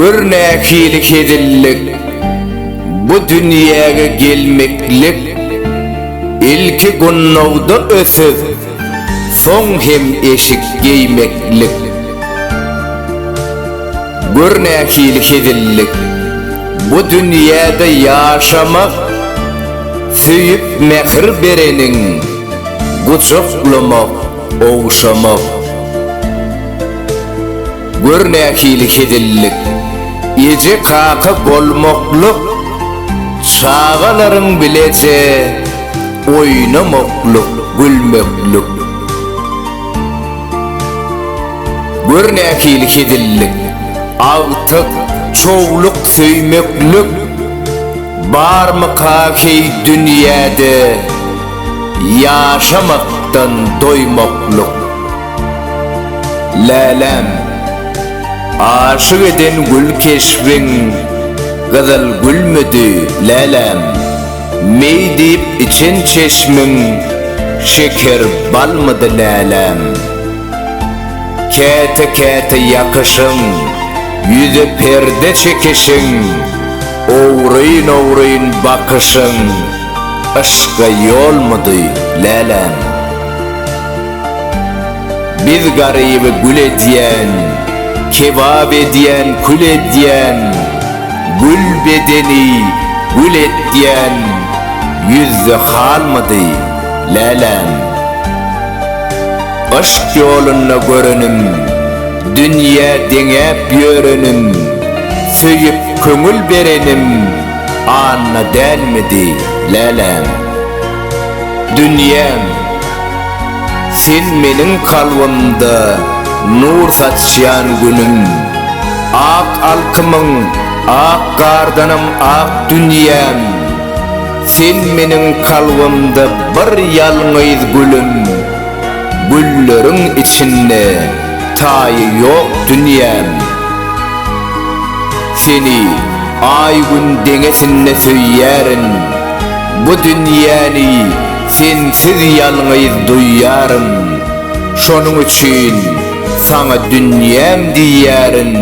Gör nähili hezillik, bu dünýäge gelmeklik, ilki gunnawda ötüp, soň hem eşik geýmeklik. Gör nähili hezillik, bu dünýäde ýaşamak, söýüp mähir bereniň, Gujaklamak, ogşamak. Gör nähili hezillik. Eje-kaka bolmaklyk. Çagalaryň bileje oýnamaklyk, gülmeklik. Gör nähili hezillik. Agtyk, çowluk söýmeklik. Barmyka heý dünýäde. Ýaşamakdan doýmaklyk. Läläm, aşyk eden gül keşbiň Gyzyl gülmüdi, läläm, meý diýip içen çeşmiň Şeker balmydy, läläm. Käte-käte ýakyşyň, ýüze perde çekişiň, Ogryn-ogryn bakyşyň. Yşka ýolmudy, läläm? Biz garyby gül edýän, Kebap edýän, kül edýän, Gül bedeni gül etýän, Ýüzde halmudy, läläm? Yşk ýolunda görenim, Dünýä deňäp ýörenim, Söýüp köňül berenim, Anna dälmidi läläm. Dünýäm, sen meniň kalbymda nur saçýan günüm. Ak alkymyň ak gardanam ak dünýäm. Sen meniň kalbymda bir ýalňyz gülüm. Gülleriň içinde taýy ýok dünýäm. Seni. Aý-Gün deňesinde söýýärin, Bu dünýäni sensiz ýalňyz duýýaryn, Şonuň üçin saňa dünýäm diýýärin,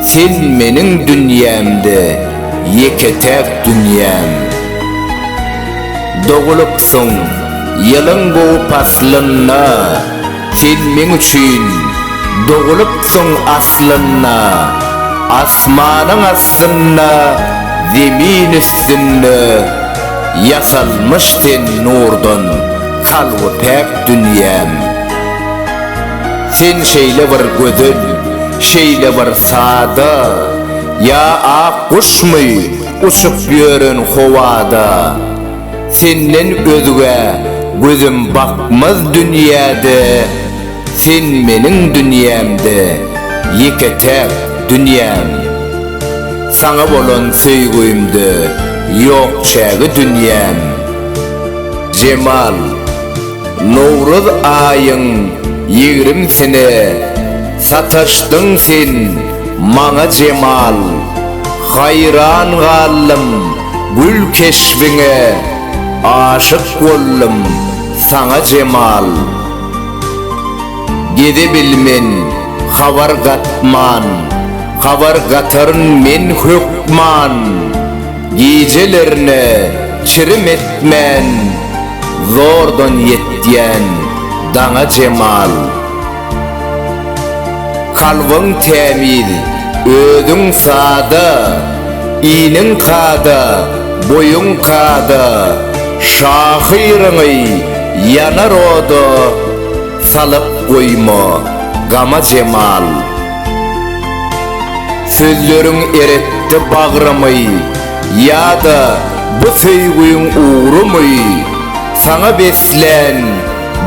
Sen meniň dünýämde ýeke-täk dünýäm. Dogulypsyň ýylyň gowy paslynda. Sen meň üçin dogulypsyň aslynda, Asmanyň astynda, zemin üstünde, Ýasalmyş sen nurdan, kalby päk dünýäm. Sen şeýle bir gözel, şeýle bir sada, Ýa ak guşmy, uçup ýören howada. Senden özgä gözüm bakmaz dünýäde Sen meniň dünýämde ýeke-täk dünýäm Saňa bolan söýgimde ýok çägi dünýäm Jemal Nowruz aýyň ýigrimsine sataşdyň sen maňa Jemal Haýran galdym Gül keşbiňe aşyk boldum saňa jemal Gezebilmen habar gatman Habar gataryn men hökman Gijelerine çirim etmän Zordan ýetýän daňa jemal. Kalbyň tämiz, özüň sada, Iniň kada, boýuň kada, Şahyryňy ýanar oda Salyp goýma gama jemal. Sözleriň eretdi bagrymy, Ýa-da bu söýgiň ugrumy, Saňa beslän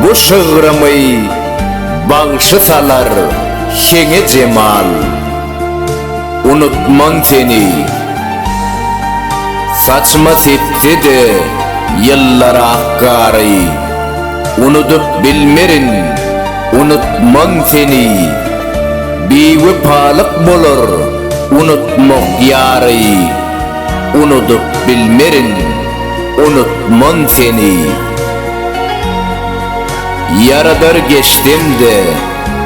Bu şygrymy bagşy salar heňe jemal Unutman seni Saçyma sepse-de ýyllar ak gary Unudyp bilmerin, unutman seni Biwepalyk bolar unutmak ýary Unudyp bilmerin, unutman seni. Ýaradar geçsem-de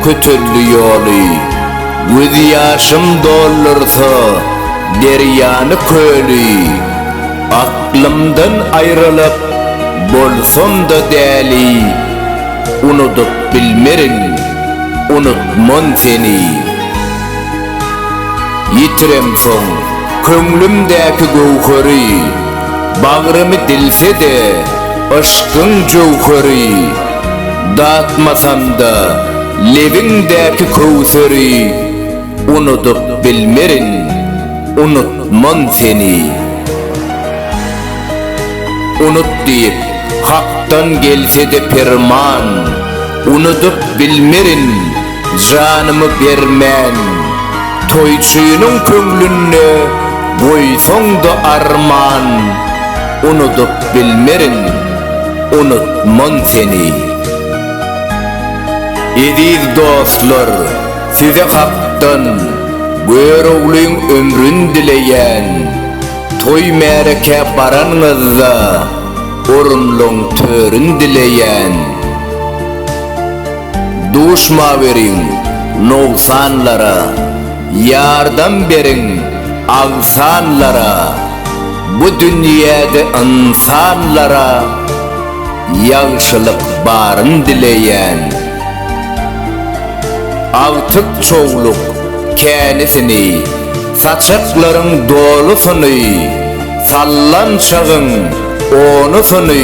kötelli ýoly, Göz ýaşym doldursa derýany köli. Aklymdan aýralyp bolsam-da däli, Unudyp bilmerin, unutman seni. Ýitiremsoň köňlümdäki göwheri, Bagrymy dilse-de yşkyň jöwheri. Datmasam-da lebiňdäki köwseri, Unudyp bilmerin, unutman seni. Unut diýip, Hakdan gelse-de perman, Unudyp bilmerin, Janymy bermen, toýçynyň köňlünde goýsaň-da arman, Unudyp bilmerin, unutman seni. Eziz dostlar, size hakdan, Göroglyň ömrün dileýän. Toý-märekä baranyňyzda, Orunlaň törün dileýän. Duşmaweriň nogsanlara, Ýardam beriň agsanlara, Bu dünýäde ynsanlara Ýagşylyk baryn dileýän. Agtyk çowluk känisini, Saçaklaryň dolusyny, Sallançagyň onusyny,